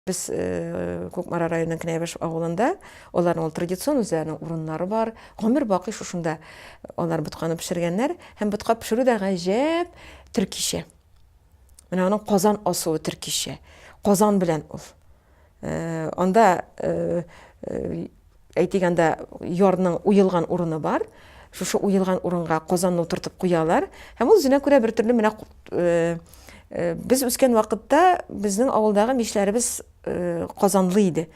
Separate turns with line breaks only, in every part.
Без э, Кукмара районының Кнәбеш авылында, аларның ул традицион үзләренең урыннары бар. Гомер бакый шушында алар ботканы пешергәннәр һәм ботка пешерү дә гаҗәп төркичә. Менә аның Казан асуы төркичә. Казан белән ул. Анда, әйтик, анда ярның уелган урыны бар. Шушы уелган урынга казанны утыртып куялар. Һәм ул үзенә күрә бер төрле менә без үскән вакытта безнең авылдагы мишләребез казанлы иде.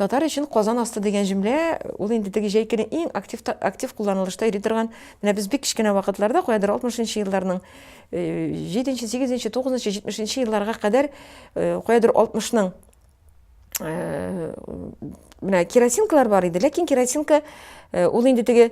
Татар өчен казан асты дигән җөмлә ул инде теге җәйкенең иң актив актив кулланылышта йөри торган, менә без бик кечкенә вакытларда, каядыр 60 нчы елларның Җиденче, сигезенче, тугызынчы, җитмешенче елларга кадәр каядыр алтмышның менә керосинкалар бар иде, ләкин керосинка ул инде теге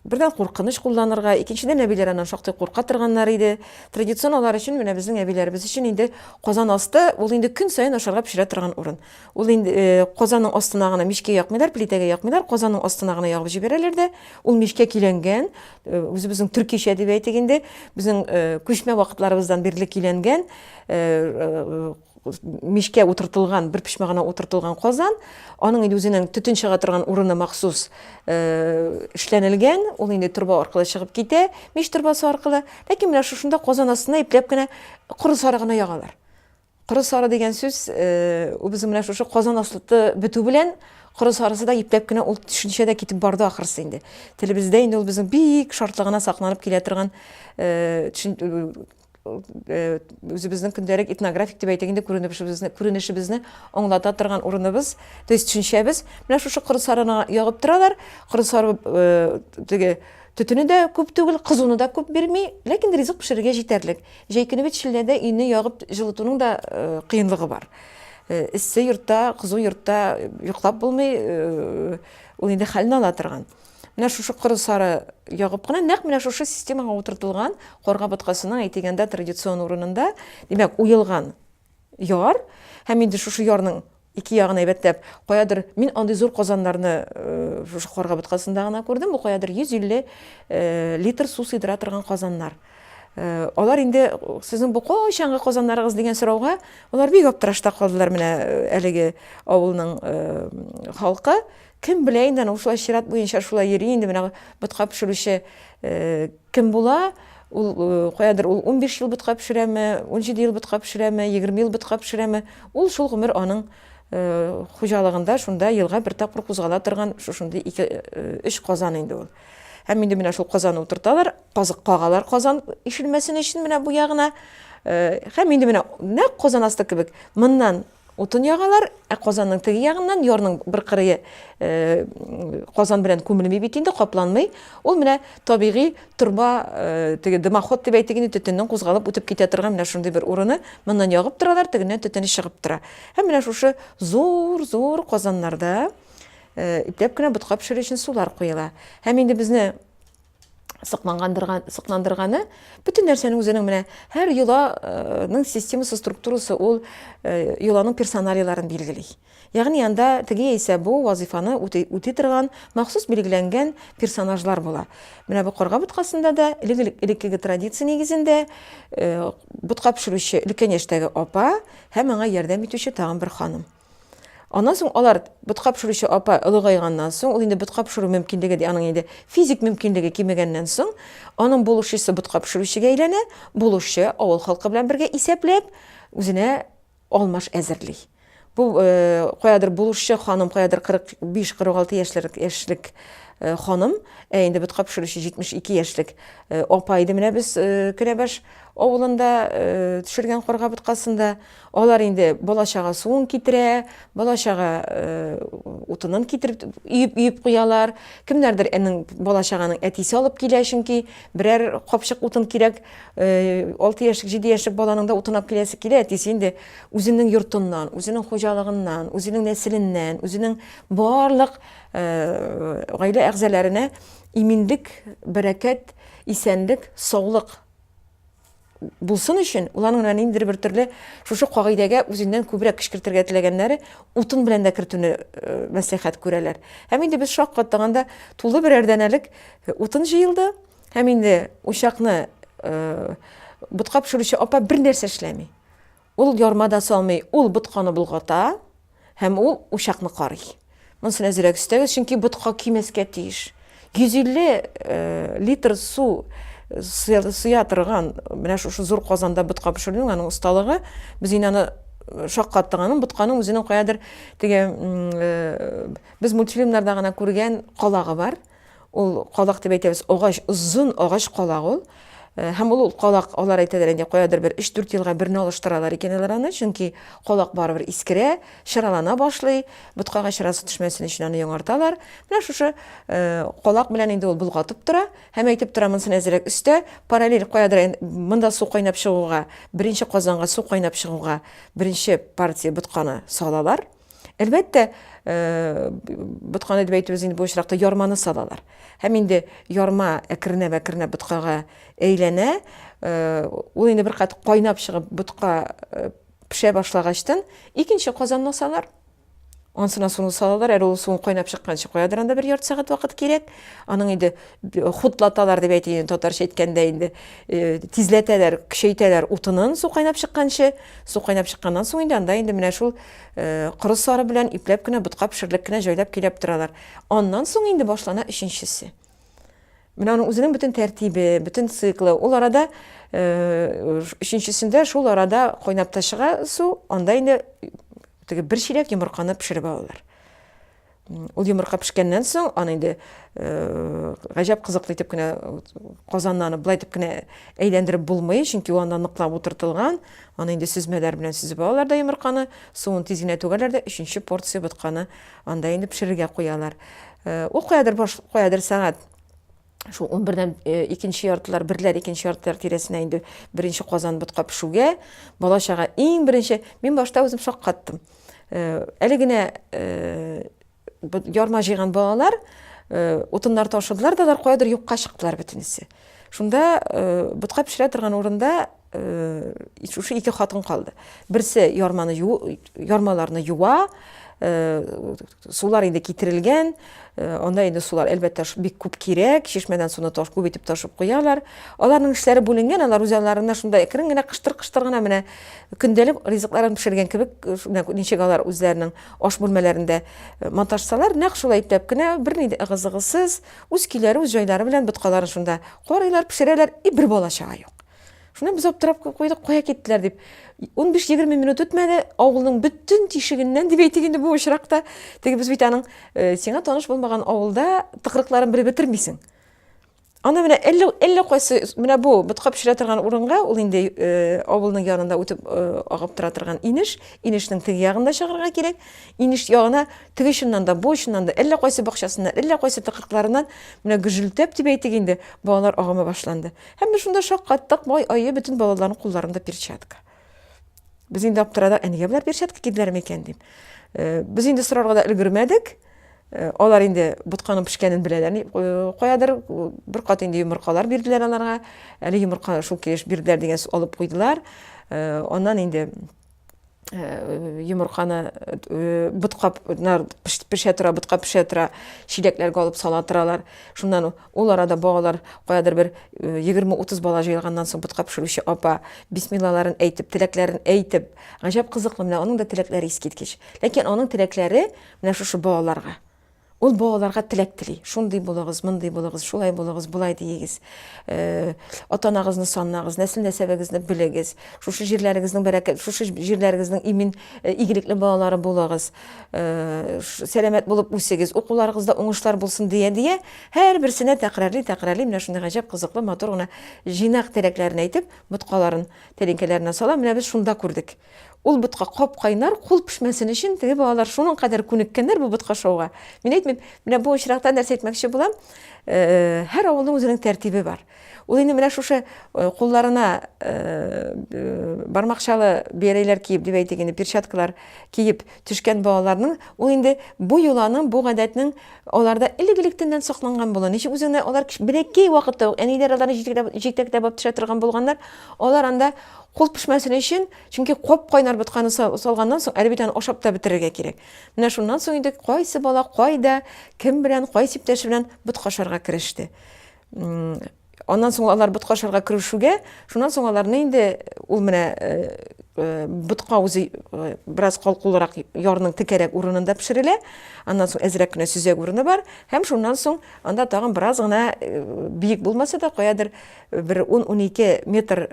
бердән куркыныч кулланырга, икенчедән әбиләр аннан шактый курка торганнар иде. Традицион алар өчен менә безнең әбиләребез өчен инде казан асты ул инде көн саен ашарга пешерә торган урын. Ул инде э, казанның астына гына мичкә якмыйлар, плитәгә якмыйлар, казанның астына гына ягып җибәрәләр дә, ул мичкә киләнгән, э, үзебезнең төркичә дип әйтик инде, безнең э, күчмә вакытларыбыздан бирле киләнгән мичкә утыртылган, бер почмак гына утыртылган казан, аның инде үзенең төтен чыга торган урыны махсус эшләнелгән, ул инде торба аркылы чыгып китә, мич торбасы аркылы, ләкин менә шушында казан астына ипләп кенә коры сарыгына ягалар. Коры сары дигән сүз үзе менә шушы Казан аслыты бетү белән коры сарысы да ипләп кенә ул төшенчә дә китеп барды ахрысы инде. Телебездә инде ул безнең бик шартлы гына сакланып килә торган үзебезнең көндәлек этнографик дип әйтик инде күренешебезне күренешебезне аңлата торган урыныбыз то есть төшенчәбез менә шушы коры сарына ягып торалар коры сары теге төтене дә күп түгел кызуны да күп бирми ләкин ризык пешерергә җитәрлек Җәй көне бит челләдә өйне ягып җылытуның да кыенлыгы бар. Эссе йортта, кызу йортта йоклап булмый, ул инде хәлне ала торган. Менә шушы коры сары ягып кына, нәкъ менә шушы системага утыртылган карга боткасының, әйтегәндә, традицион урынында, димәк, уелган. яр һәм инде шушы ярның ике ягын әйбәтләп, каядыр мин андый зур казаннарны э, шушы Карга боткасында гына күрдем, бу каядыр 150 э, литр су сыйдыра торган казаннар. Э, алар инде сезнең бу кайчанга казаннарыгыз дигән сорауга, алар бик аптырашта калдылар менә әлеге авылның халкы. Кем белә инде, ушулай чират буенча шулай йөри инде менә ботка пешерүче Кем була, ул каядыр ул унбиш ел ботка пешерәме, унҗиде ел ботка пешерәме, егерме ел ботка пешерәме, ул шул гомер аның хуҗалыгында шунда елга бер тапкыр кузгала торган шушындый ике, өч казан инде ул. Һәм инде менә шул казаны утырталар, казык кагалар казан ишелмәсен өчен менә бу ягына. Һәм инде менә нәкъ казан асты кебек, моннан Утын ягалар, ә казанның теге ягыннан, ярның бер кырые казан белән күмелми бит инде, капланмый. Ул менә табигый торба, теге дымоход дип әйтик инде, төтеннең кузгалып үтеп китә торган менә шундый бер урыны. Моннан ягып торалар, тегеннән төтене чыгып тора. Һәм менә шушы зур-зур казаннарда ипләп кенә ботка пешерү өчен сулар куела. Һәм инде безне сыклангандырган сыкландырганы бөтен нәрсәнең үзенең менә һәр йоланың системасы структурасы ул э, йоланың персоналияләрен билгели ягъни анда теге яисә бу вазифаны үти торган махсус билгеләнгән персонажлар була менә бу карга боткасында да элеккеге традиция нигезендә э, ботка пешерүче өлкән яшьтәге апа һәм аңа ярдәм итүче тагын бер ханым Аннан соң алар ботка пешерүче апа олыгайганнан соң, ул инде ботка пешерү мөмкинлеге дә аның инде физик мөмкинлеге кимегәннән соң, аның булышчысы ботка пешерүчегә әйләнә, булышчы авыл халкы белән бергә исәпләп, үзенә алмаш әзерли. Бу э, каядыр булышчы ханым, каядыр 45-46 яшьләр яшьлек э, ханым, ә инде ботка пешерүче 72 яшьлек э, апа иде менә без Керәбаш авылында төшергән карга боткасында. Алар инде бала-чага суын китерә, бала-чага утынын китереп, өеп-өеп куялар. Кемнәрдер әнең бала-чаганың әтисе алып килә, чөнки берәр капчык утын кирәк. 6 яшьлек, 7 яшьлек баланың да утын алып киләсе килә, әтисе инде үзенең йортыннан, үзенең хуҗалыгыннан, үзенең нәселеннән, үзенең барлык гаилә әгъзаларына иминлек, бәрәкәт, исәнлек, саулык. булсын өчен, ул аның ниндидер бер төрле шушы кагыйдәгә үзеннән күбрәк кечкертергә теләгәннәре утын белән дә кертүне э, мәслихәт күрәләр. Һәм инде без шаккаттаганда тулы берәр дәнәлек э, утын җыелды, һәм инде учакны э, ботка пешерүче апа бер нәрсә эшләми. Ул ярма да салмый, ул ботканы болгата һәм ул учакны карый. Монсын әзрәк өстәгез, чөнки ботка көймәскә тиеш. 150 литр су сыя торган менә шушы зур казанда ботка пешерүнең аның осталыгы, без инде аны шаккаттык аның ботканың үзенең каядыр теге без мультфильмнарда гына күргән калагы бар. Ул калак дип әйтәбез, агач, озын агач калак ул. Э, һәм ул калак, алар әйтәләр инде, каядыр бер 3-4 елга берне алыштыралар икән алар аны, чөнки калак барыбер искерә, чыралана башлый, боткага чырасы төшмәсен өчен аны яңарталар. Менә шушы э, калак белән инде ул болгатып тора, һәм әйтеп тора монсын әзерәк өстә, параллель каядыр монда су кайнап чыгуга, беренче казанга су кайнап чыгуга беренче партия ботканы салалар. Әлбәттә, ботканы дип әйтүебез инде бу очракта ярманы салалар. Һәм инде ярма әкренәп-әкренәп боткага әйләнә. Ул инде бер кат кайнап чыгып ботка пешә башлагачтан, икенче казанны салар. Ансына суны салалар, әле ул суын кайнап чыкканчы куядыр анда бер ярты сәгать вакыт кирәк. Аның инде хутлаталар дип әйтелгән татарча әйткәндә инде тизләтәләр, көчәйтәләр утынын су кайнап чыкканчы. Су кайнап чыкканнан соң инде анда инде менә шул Корыслары белән ипләп кенә, ботка пешерелеп кенә җайлап киләп торалар. Аннан соң инде башлана өченчесе. Менә аның үзенең бөтен тәртибе, бөтен циклы. Ул арада өченчесендә шул арада кайнап та чыга су, анда инде теге бер чиләк йомырканы пешереп алалар. Ул йомырка пешкәннән соң, аны инде гаҗәп кызыклы итеп кенә казаннан аны болай итеп кенә әйләндереп булмый, чөнки ул анда ныклап утыртылган. Аны инде сөзмәләр белән сөзеп алалар да йомырканы, суын тиз генә түгәләр дә өченче порция ботканы анда инде пешерергә куялар. Ул каядыр баш, каядыр сәгать шул 11-дән э, икенче яртылар, берләр икенче яртылар тирәсенә инде беренче казан ботка пешүгә, бала чага иң беренче, мин башта үзем шаккаттым. Э, әле генә э, ярма җыйган балалар утыннар ташыдылар да алар каядыр юкка чыктылар бөтенесе. Шунда ботка пешерә торган урында шушы ике хатын калды. Берсе ярманы ярмаларны юа, Сулар инде китерелгән, э, анда инде сулар, әлбәттә, бик күп кирәк, чишмәдән суны таш күп итеп ташып куялар. Аларның эшләре бүленгән, алар үзаларына шунда әкрен генә кыштыр-кыштыр гына менә көндәлек ризыкларын пешергән кебек, э, ничек алар үзләренең аш бүлмәләрендә э, монтажсалар, нәкъ шулай ипләп кенә, берни дә ыгы-зыгысыз, үз көйләре, үз җайлары белән боткаларын шунда карыйлар, пешерәләр, и бер бала чага юк. Шуны без аптырап куйдык, кая киттеләр дип. 15-20 минут үтмәде, авылның бөтен тишегеннән дип әйтик инде бу очракта. Теге без бит аның э, сиңа таныш булмаган авылда тыкрыкларын бер бетермисең. Ана менә әллә әллә кайсы менә бу ботка пешерә торган урынга, ул инде э, авылның янында үтеп э, агып тора торган инеш, инешнең теге ягында чыгарга кирәк. Инеш ягына теге чыннан да, бу чыннан да, әллә кайсы бакчасыннан, әллә кайсы тыкрыкларыннан менә гөжелтәп дип әйтик инде, балалар агымы башланды. Һәм без шунда шаккаттык, бай ае бөтен балаларның кулларында перчатка. Без инде аптырадык, ә нигә болар перчатка киделәр микән дип. Э, без инде сорарга да өлгермәдек. Э, алар инде ботканың пешкәнен беләләр э, каядыр э, бер кат инде йомыркалар бирделәр аларга әле йомырка шул килеш бирделәр дигән алып куйдылар аннан инде Э, йомырканы э, бутка пешә тора бутка пешә тора чиләкләргә алып сала торалар шуннан ул арада балалар каядыр бер э, егерме утыз бала җыелганнан соң бутка пешерүче апа бисмиллаларын әйтеп теләкләрен әйтеп гаҗәп кызыклы менә аның да теләкләре искиткеч ләкин аның теләкләре менә шушы балаларга Ул балаларга теләк тели. Шундый булыгыз, мондый булыгыз, шулай булыгыз, болай диегез. Э, Атанагызны санагыз, нәсел-нәсәбегезне белегез. Шушы җирләрегезнең бәрәкәт, шушы җирләрегезнең имин, э, игелекле балалары булыгыз. Э, сәламәт булып үсегез, укуларыгызда уңышлар булсын дия-дия, һәрберсенә тәкрарли, тәкрарли, менә шундый гаҗәп кызыклы, матур гына җыйнак теләкләрен әйтеп, боткаларын, тәлинкәләренә сала. Менә без шунда күрдек. Ул ботка кап-кайнар, кул пешмәсен өчен, теге балалар шуның кадәр күнеккәннәр бу ботка шоуга. Мин әйтмим, менә бу очракта нәрсә әйтмәкче булам, һәр авылның үзенең тәртибе бар. Ул инде менә шушы кулларына бармакчалы бияләйләр киеп, дип әйтик инде, перчаткалар киеп төшкән балаларның, ул инде бу йоланың, бу гадәтнең аларда элек-электәннән сакланган була. Ничек үзеңне алар беләкәй вакытта ук әниләр аларны җитәкләп җитәкләп төшә торган булганнар, алар анда Кул пешмәсен өчен, чөнки кап-кайнар ботканы салганнан соң, әле бит аны ашап та бетерергә кирәк. Менә шуннан соң инде кайсы бала кайда, кем белән, кайсы иптәше белән ботка ашарга кереште. Аннан соң алар ботка ашарга керешүгә, шуннан соң аларны инде ул менә ботка үзе бераз калкулырак ярның текәрәк урынында пешерелә. Аннан соң әзрәк кенә сөзәк урыны бар һәм шуннан соң анда тагын бераз гына биек булмаса да, каядыр бер ун-унике метр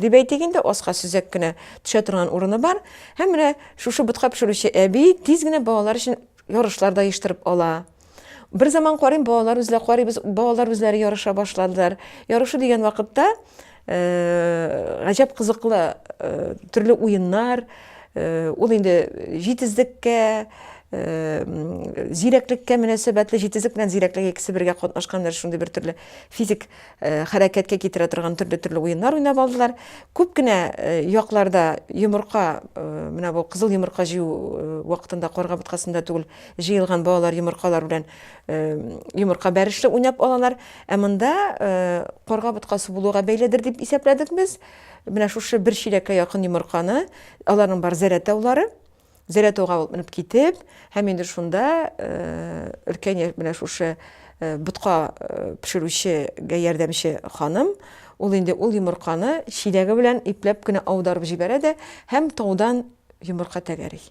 дип әйтик инде, аска сөзәк кенә төшә торган урыны бар. Һәм менә шушы ботка пешерүче әби тиз генә балалар өчен ярышлар да оештырып ала. Бер заман карыйм, балалар үзләре карыйбыз, балалар үзләре ярыша башладылар. Ярышу дигән вакытта гаҗәп кызыклы төрле уеннар, ул инде җитезлеккә, зирәклеккә мөнәсәбәтле, җитезлек белән зирәклек икесе бергә катнашкан шундый бер төрле физик хәрәкәткә китерә торган төрле-төрле уеннар уйнап алдылар. Күп кенә якларда йомырка, менә бу кызыл йомырка җыю вакытында карга боткасында түгел, җыелган балалар йомыркалар белән йомырка бәрешле уйнап алалар. Ә монда карга боткасы булуга бәйледер дип исәпләдек без. Менә шушы бер чиләккә якын йомырканы, аларның бар зәрәтаулары, Зәләтауга ул менеп китеп, һәм инде шунда өлкән яшь менә шушы ботка пешерүчегә ярдәмче ханым, ул инде ул йомырканы чиләге белән ипләп кенә аударып җибәрә дә һәм таудан йомырка тәгәри.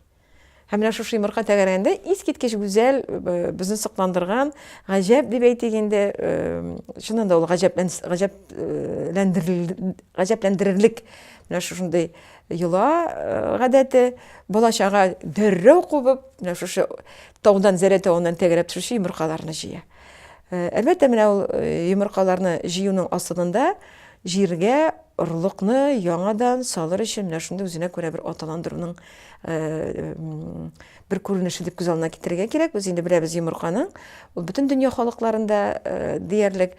Һәм менә шушы йомырка тәгәрәгәндә искиткеч гүзәл, безне сокландырган, гаҗәп дип әйтик инде, чыннан да ул гаҗәпләндерерлек менә шушындый Йола гадәте, бала-чага дәррәү кубып, менә шушы таудан, Зәрә тавыннан тәгәрәп төшүче йомыркаларны җыя. Әлбәттә, менә ул йомыркаларны җыюның асылында җиргә орлыкны яңадан салыр өчен менә шундый үзенә күрә бер аталандыруның бер күренеше дип күз алдына китерергә кирәк. Без инде беләбез йомырканың, ул бөтен дөнья халыкларында диярлек,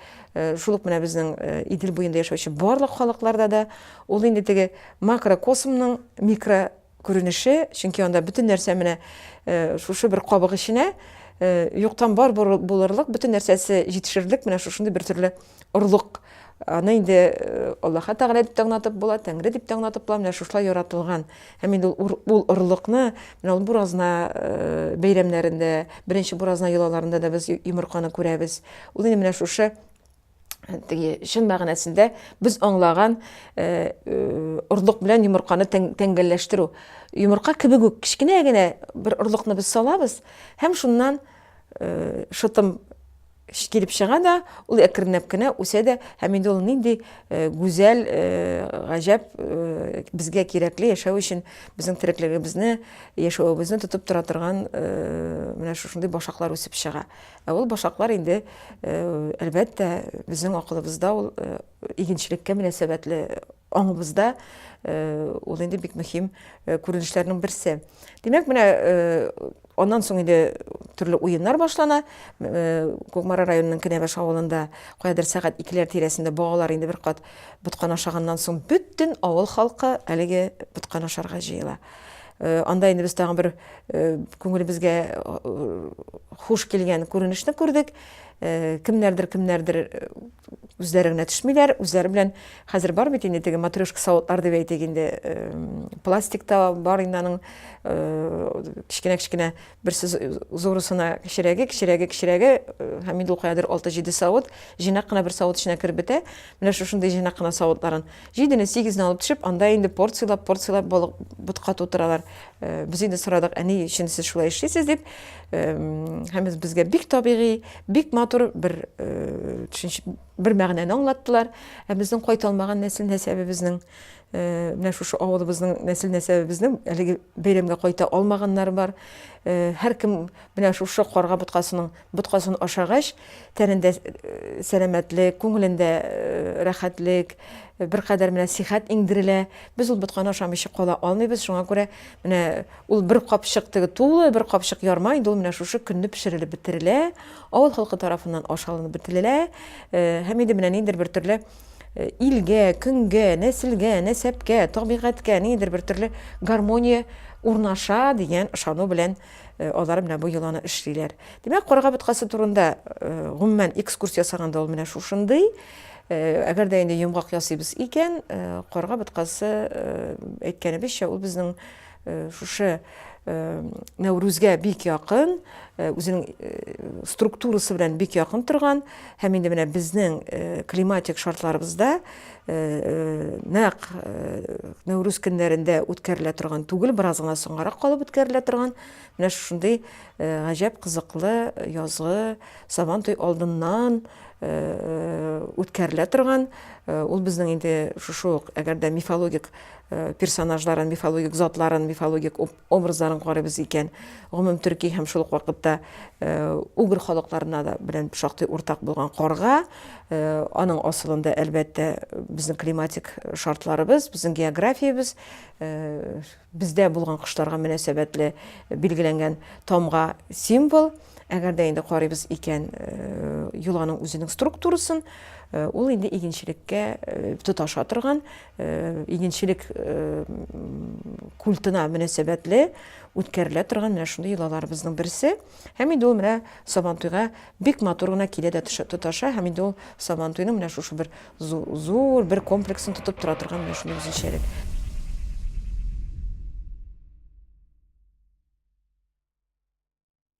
шул ук менә безнең Идел буенда яшәүче барлык халыкларда да ул инде теге макрокосмның микро күренеше, чөнки анда бөтен нәрсә менә шушы бер кабык эченә юктан бар булырлык, бөтен нәрсәсе җитешерлек менә шушындый бер төрле орлык, аны инде э, Аллаһы Тәгалә дип таңнатып була, Тәңре дип таңнатып була, менә шушылай яратылган. Һәм инде ул орлыкны менә ул буразна э, бәйрәмнәрендә, беренче буразна йолаларында да без йомырканы күрәбез. Ул инде менә шушы э, теге чын мәгънәсендә без аңлаган орлык белән йомырканы тәңгәлләштерү. Йомырка кебек үк кечкенә генә бер орлыкны без салабыз һәм шуннан шытым Килеп чыга да, ул әкренләп кенә үсә дә, һәм инде ул нинди э, гүзәл, э, гаҗәп, э, безгә кирәкле яшәү өчен безнең тереклегебезне, яшәвебезне тотып тора торган менә шушындый башаклар үсеп чыга. Ә ул башаклар инде, әлбәттә, безнең акылыбызда ул игенчелеккә мөнәсәбәтле Аңыбызда ул инде бик мөһим күренешләрнең берсе. Димәк, менә аннан соң инде төрле уеннар башлана. Кукмара районының Кенәбаш авылында каядыр сәгать икеләр тирәсендә балалар инде бер кат боткан ашаганнан соң бөтен авыл халкы әлеге боткан ашарга җыела. Анда инде без тагын бер күңелебезгә хуш килгән күренешне күрдек. Кемнәрдер, кемнәрдер үзләре генә төшмиләр, үзләре белән хәзер бар бит инде теге матрешка савытлар дип әйтик инде, пластик та бар инде аның кечкенә-кечкенә берсе зурысына кечерәге, кечерәге, кечерәге, һәм инде ул каядыр 6-7 савыт, җыйнак кына бер савыт эченә кереп бетә. Менә шушындый җыйнак кына савытларын Җидене, сигезне алып төшеп, анда инде порцияләп-порцияләп балык ботка тутыралар. Э, без инде сорадык, ә ни өчен сез шулай эшлисез дип. Э, һәм безгә бик табигый, бик матур бер э, төшенчә, бер мәгънәне аңлаттылар. Ә безнең кайталмаган нәсел нәсәбебезнең менә шушы авылыбызның нәсел нәсәбебезнең әлеге бәйрәмгә кайта алмаганнары бар. Һәркем менә шушы карга боткасының Боткасын ашагач, тәнендә сәламәтлек, күңелендә рәхәтлек, беркадәр менә сихәт иңдерелә. Без ул ботканы ашамыйча кала алмыйбыз, шуңа күрә менә ул бер капчык теге тулы, бер капчык ярма инде ул менә шушы көнне пешерелеп бетерелә, авыл халкы тарафыннан аш алынып бетерелә. Һәм инде менә ниндидер бер төрле илгә, көнгә, нәселгә, нәсәпкә, табигатькә ниндидер бер төрле гармония урнаша дигән ышану белән Э, алары менә бу йоланы эшлиләр. Димәк, карга боткасы турында э, гомумән экскурсия ясаганда ул менә шушындый. Э, әгәр дә инде йомгак ясыйбыз икән, карга боткасы әйткәнебезчә, ул безнең шушы Нәүрүзгә бик якын, үзенең структурасы белән бик якын торган һәм инде менә безнең климатик шартларыбызда Нәкъ Нәүрүз көннәрендә үткәрелә торган түгел, бераз гына соңгарак калып үткәрелә торган менә шушындый гаҗәп кызыклы язгы Сабан туй алдыннан үткәрелә торган, ул безнең инде шушы ук, әгәр дә мифологик персонажларын, мифологик затларын, мифологик образларын карыйбыз икән, гомум төрки һәм шул ук вакытта э, угр халыкларына да белән шактый уртак булган карга, э, аның асылында әлбәттә безнең климатик шартларыбыз, безнең географиябез, э, бездә булган кошларга мөнәсәбәтле билгеләнгән тамга символ. Әгәр дә инде карыйбыз икән юланың үзенең структурасын, ул инде игенчелеккә тоташа торган игенчелек культына мөнәсәбәтле үткәрелә торган менә шундый йолаларыбызның берсе. Һәм инде ул менә Сабантуйга бик матур гына килә дә тоташа, һәм инде ул Сабантуйның менә шушы бер зур бер комплексын тотып тора торган менә шундый үзенчәлек.